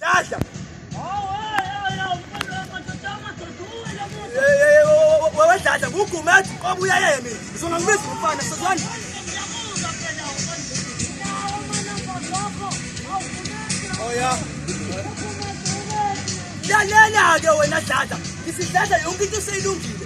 Dada. Wewe dada, huku umeacha kwa buya yeye mimi. Sio na mimi mfana sasa. Oya. Lalela ke wena dada. Isidlala yonke into seyilungile.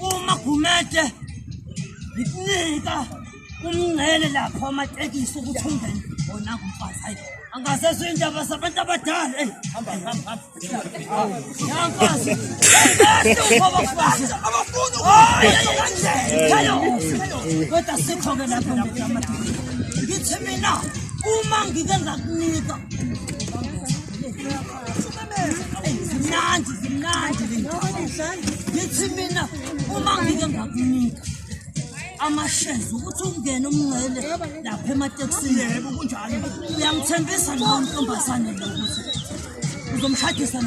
Uma Gumede ngikunika umngcele lapho amatekisi ukuthi ungene wona kumfazi hayi angasezwe indaba zabantu abadala eyi hamba hamba hamba yamfazi kodwa sikho-ke lapho ngithi mina uma ngike ngakunika zimnandi zimnandi ngithi mina uma ngike ngakunika amashezi ukuthi ungene umngcele lapha ematekisini yebo kunjalo uyangithembisa lowo ntombazane lo ukuthi uzomshadisa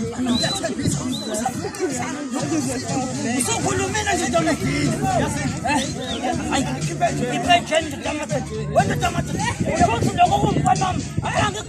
usukhulumile nje ntomegile ipensheni ndodamathe wendodamathe ukuthi lokho kumfanami